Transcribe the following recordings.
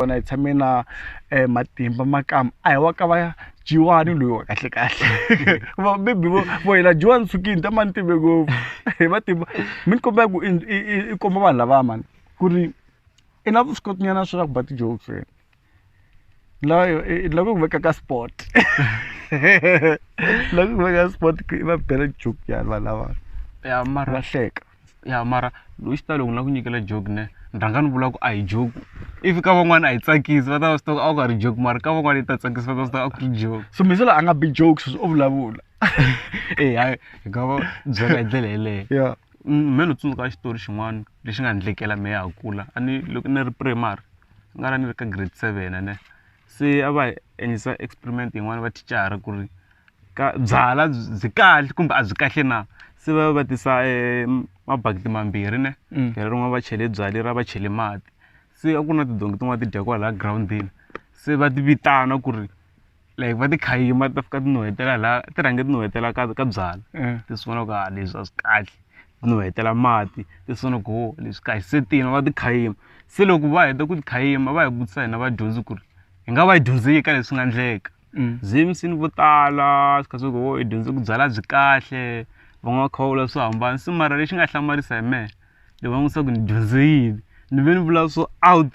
kona hi tshame na matimba makamba a hi wa ka va jiwani loyi wa kahle kahle va maybe vo vo yena jiwani sukini ta mani timbe ngopfu hi matimba mi ni kombela ku i komba vanhu lavaya mani ku ri i na vuswikoti nyana swa ku ba ti-jokes wena layo i la ku veka ka sport la ku veka sport i va bela joke yani vanhu lava ya mara va hleka ya mara hi xitalo ni lava ku nyikela joke ne ni rhanga ni vula ku a hi joke if ka van'wana a yi tsakisi va ta va swi tiva ku a ku nga ri joke mara ka van'wana yi ta tsakisa va ta swi tiva a ku ri joke so mi se la a nga bi joke sweswi o vulavula e hayi hi nga va byela hi ndlela yeleyo ya Mm, me ni tsundzuka xitori xin'wana lexi nga ni endlekela me ya ha kula a ni loko ni ri primary ni nga ra ni ri ka grade seven ne se a va hi endlisa experiment yin'wana va thicara ku ri ka byalwa byi kahle kumbe a byi kahle na se va va tisa mabakiti mambirhi ne mm. leri rin'wana va chele byalwa lera va chele mati se a ku na tidongi tin'wana ti dya kwala groundini se va ti vitana ku ri like va ti khayima ti ta fika ti nuhetela laha ti rhange ti nuhetela ka ka byalwa eh. ti swi vona ku ha ah, leswi a swi kahle nuhetela mati leswaku leswi kahle se tiyini va ti khayima se loko va heta ku ti khayima va hi vutisa hina vadyondzi ku ri hi nga va yi dyondzeki ka leswi nga endleka mm. zimsini vo tala swi kha swi ku hi dyondze ku byala byi kahle va nga kha va vula swo hambana se mara lexi nga hlamarisa hi mehe ni va n'wisa ku ni dyondze yini ni ve ni vula swo out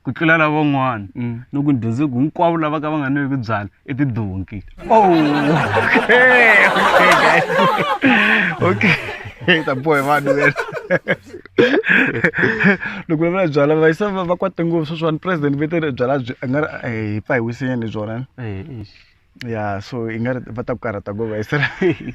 ku tlula lavan'wana mm. no ku dyondze ku hinkwavo lava ka va nga nweki byala i tidonki oh, okay ta bohe vanhu loko va vula byala va yisa va kwate ngopfu sweswiwani president va te byala byi a nga ri eh, hi pfa hi wisinyana hi byona eh, ya so i nga ri va ta ku karhata ngopfu va yisela